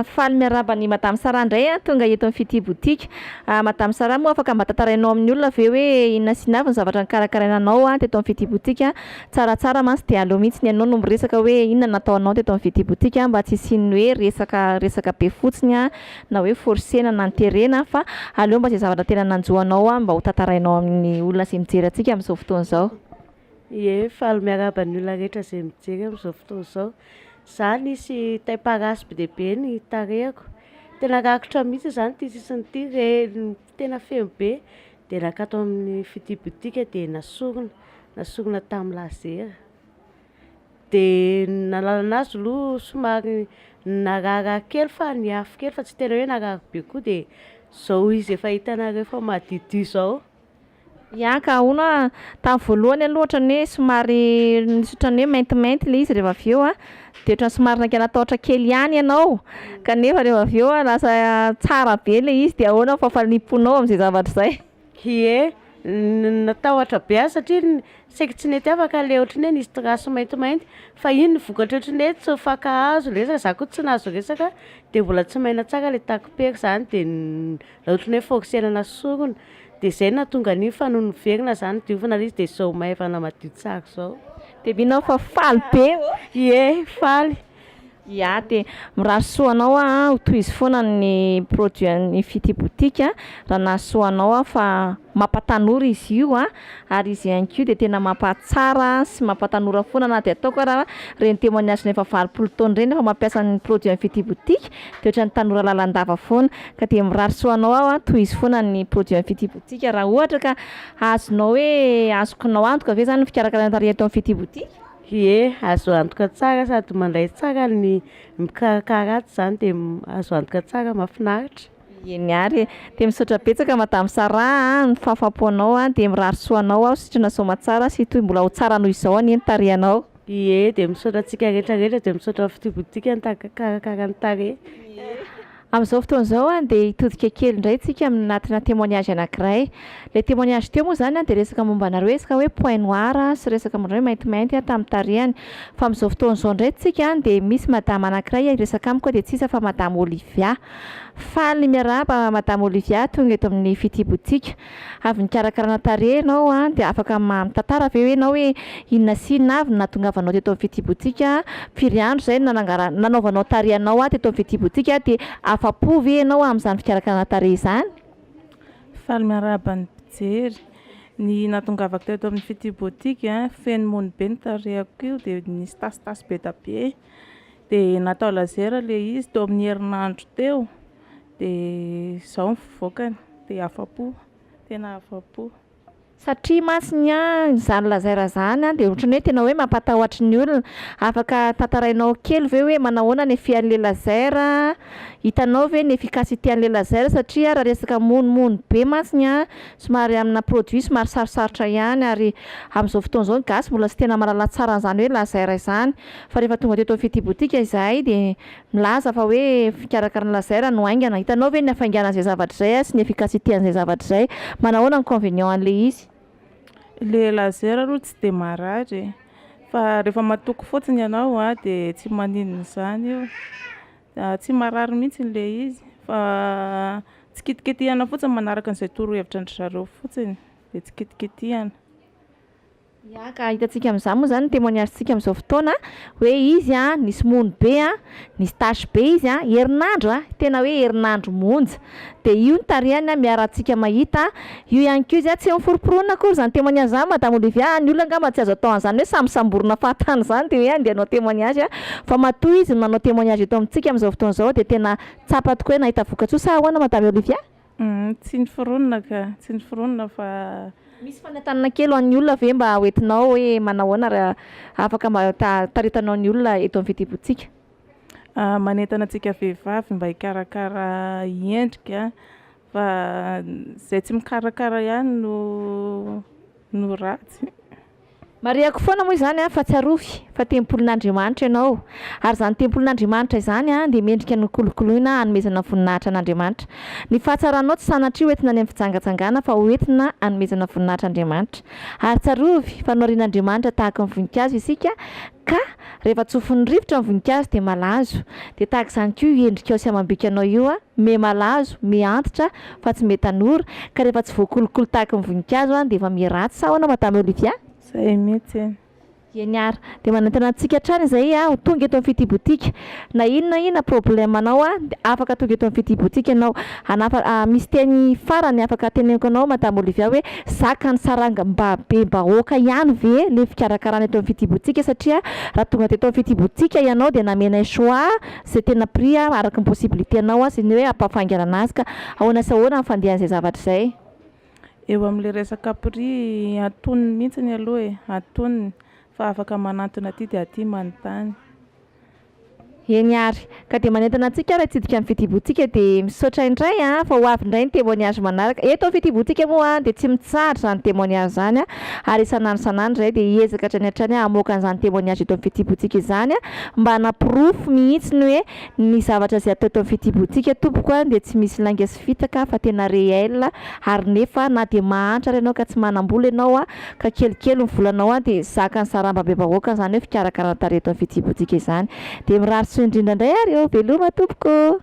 Faly miarahaba an'i Madame Sara indray a, tonga eto amin'ny Fitia Boutique. Madame Sara moa afaka mba tantarainao amin'ny olona ve hoe inona sy inona avy ny zavatra nokarakaraina anao teto amin'ny Fitia Boutique? Tsaratsara mantsy dia aleo mihitsy ny ianao no miresaka hoe inona no nataonao teto amin'ny Fitia Boutique mba tsy hisian'ny hoe resaka resaka be fotsiny a. na hoe forcena na terena fa aleo mba izay zavatra tena nanjo anao an mba ho tantarainao amin'ny olona izay mijery antsika amin'izao fotoana izao. Ie, faly miarahaba ny olona rehetra izay mijery amin'izao fotoana izao. Izaho nisy tay parasy be dia be ny tarehiko, tena rakotra mihitsy izany ity sisiny ity, re- tena feno be dia naka ato amin'ny fitia boutique dia nasorona, nasorona tamin'ny lazera. de ny nahalalana azy aloha somary nararirary kely fa niafy kely fa tsy tena hoe narary be koa de zao izy efa hitanareo efa madiodio zao. Ya ka, hono a, tamin'ny voalohany aloha ohatran'ny hoe somary nisy ohatran'ny hoe maintimainty ilay izy rehefa avy eo a, de ohatran'ny somary nankanan-tahotra kely ihany ianao, kanefa rehefa avy eo lasa tsara be ilay izy de ahoana ny fahafaliam-ponao amin'izay zavatra izay? Ie, natahotra be aho satria saiky tsy nety afaka le ohatran'ny hoe nisy trace maintimainty fa iny ny vokatry ohatran'ny hoe tsy mifankahazo le resaka, za koa tsy nahazo resaka de mbola tsy maina tsara le takipery zany de raha ohatran'ny hoe fokosenana sorona de zay no nahatonga an'iny fa nony niverina za nodiovina le izy de zao maivana madio tsara zao. De mino aho fa faly be ô! Ie, faly. Ya de mirary soa anao aho a, ho tohizo foana ny produit an'ny Ifitia boutique a, raha nahasoa anao aho fa mampatanora izy io a, ary izy ihany koa dia tena mampahatsara sy mampatanora foana na dia ataoko ara ireny témoignage an'efa valopolo taona ireny efa mampiasa ny produit an'ny Ifitia boutique dia ohatran'ny tanora lalandava foana, ka dia mirary soa anao aho a, tohizo foana ny produit an'ny Ifitia boutique raha ohatra ka azonao hoe azokonao antoka ve zany ny fikarakarana tarehy eto amin'ny Ifitia boutique. Ie, azo antoka tsara sady mandray tsara ny mpikarakara ato izany dia azo antoka tsara mahafinaritra. Ieny ary e! Dia misaotra betsaka Madame Sarah a, ny fahafapo anao a, dia mirary soa anao aho, sitrana soamatsara sy hitohy mbola ho tsara noho izao anie ny tarehinao. Ie, dia misaotra antsika rehetra rehetra, dia misaotra ny fitobin-dikany takakarakarany tarehy. Ie. Amin'izao fotoana izao dia hitodika kely indray tsika anatina témoignage anankiray. Ilay témoignage teo moa izany dia resaka momba anareo resaka hoe point noir sy resaka momba anareo maintimainty tamin'ny tarehany. Fa amin'izao fotoana izao indray tsika dia misy madama anankiray hiresaka amiko dia tsy iza fa madama Olivia. Faly miarahaba madama Olivia tonga eto amin'ny fitibotsika. Avy nikarakarana tarehy ianao dia afaka mitantara ve ianao hoe inona sy inona avy no nahatongavanao teto amin'ny fitsibotsika? Firy andro izay no nanangara- nanaovanao tarehy anao teto amin'ny fitsibotsika dia afa-po ve ianao amin'izany fikarakarana tarehy izany? Faly miarahaba ny mpijery. Ny nahatongavako teto amin'ny fitsibotsika, feno mony be ny tarehiko io dia nisy tasitasy be dia be dia natao laser ilay izy teo amin'ny herinandro teo Dia izao ny fivoakany, dia afa-po, tena afa-po. Satria mantsy ny ahy, izany lazaira izany dia ohatran'ny hoe tena hoe mampatahotra ny olona. Afaka tantarainao kely ve hoe manahoana ny fian'ilay lazaira? Hitanao ve ny efficacité-n'ilay lazaira? Satria raha resaka monomono be mantsy ny ahy, somary amina produit somary sarosarotra ihany ary amin'izao fotoana izao ny gasy mbola tsy tena mahalala tsara an'izany hoe lazaira izany. Fa rehefa tonga teto amin'ny Fitia Boutique izahay dia. Milaza fa hoe fikarakaran'i lazaire no haingana. Hitanao ve ny hafainganan'izay zavatra izay sy ny efficacité-n'izay zavatra izay? Manahoana ny convenient-n'ilay izy? Ilay lazaire aloha tsy dia marary e, fa rehefa matoky fotsiny ianao dia tsy maninona izany io, tsy marary mihintsy ilay izy fa tsy kitikitihana fotsiny manaraka izay torohevitran-dry zareo fotsiny, dia tsy kitikitihana. Ya ka, hitantsika amin'izany moa izany ny témoignage-ntsika amin'izao fotoana hoe izy a, nisy mono be a, nisy tâche be izy a, herinandro a, tena hoe herinandro monja. Dia io ny tarehany a, miarahantsika mahita a. Io ihany koa izy a, tsy miforomporonina akory izany témoignage izany Madame Olivia a, ny olona angamba tsy azo atao an'izany hoe samisamborina fahatany izany dia hoe andeha hanao témoignage a, fa matoa izy no manao témoignage eto amintsika amin'izao fotoana izao dia tena tsapa tokoa hoe nahita vokatsoa sa ahoana Madame Olivia? Tsy ny foronina ka, tsy ny foronina fa. Misy fanentanana kely ho an'ny olona ve mba ho entinao hoe manao ahoana raha afaka mba taritinao ny olona eto amin'ny fitiavantsika? Manentana antsika vehivavy mba hikarakara endrika fa izay tsy mikarakara ihany no no ratsy. Marihako foana moa izany fa tsarovy fa tempolin'Andriamanitra ianao ary izany tempolin'Andriamanitra izany dia mendrika nokolokoloina hanomezana voninahitra an'Andriamanitra. Ny fahatsaranao tsy sanatria ho entina any amin'ny fijangajangana fa ho entina hanomezana voninahitra Andriamanitra. Ary tsarovy fa noharian'Andriamanitra tahaka ny voninkazo isika. Ka, rehefa tsofin'ny rivotra ny voninkazo dia malazo. Dia tahaka izany koa io endrikao sy amam-bikanao io an, miha malazo, miha antitra, fa tsy miha tanora, ka rehefa tsy voakolokolo tahaka ny voninkazo an, dia efa miha ratsy sa ahoana Madame Olivia? Zay mihitsy. Eny ary. Dia manentana antsika hatrany izahay ho tonga eto amin'ny Fitibotika. Na ino na ino na problème anao a de afaka tonga eto amin'ny Fitia Boutique ianao. Hanafa- a, misy teny farany afaka ateneniko anao Madame Olivia hoe zaka ny saranga mba be bahoaka ihany ve le fikarakarana eto amin'ny Fitia Boutique satria raha tonga teto amin'ny Fitia Boutique ianao de namenay choix ze tena prix a araky ny possibilité anao a sy ny hoe ampafaingana anazy ka ahoana sy ahoana ny fandehan'izay zavatra izay. Eo am'le resaka prix antonony mihitsiny aloha e, antonony fa afaka manantona aty de aty manontany. Eny ary, ka dia manentana antsika ary hitsidika ny fitibotsika dia misaotra indray a! fa ho avy indray ny témoignage manaraka. Eto amin'ny fitibotsika moa dia tsy mitsahatra izany témoignage izany ary isan'andro isan'andro izahay dia hiezaka hatrany hatrany hamoaka an'izany témoignage eto amin'ny fitibotsika izany a! mba hanaporofo mihitsy ny hoe ny zavatra izay atao eto amin'ny fitibotsika tompoko a! dia tsy misy lainga sy tsy fitaka fa tena réel ary nefa na dia mahantra ary ianao ka tsy manam-bola ianao ka kelikely ny volanao dia zakan'ny saramba be vahoaka izany hoe fikarakarana tarehy eto amin'ny fitsibotsika izany dia mirary soa indrindra indray ary eo veloma tompoko.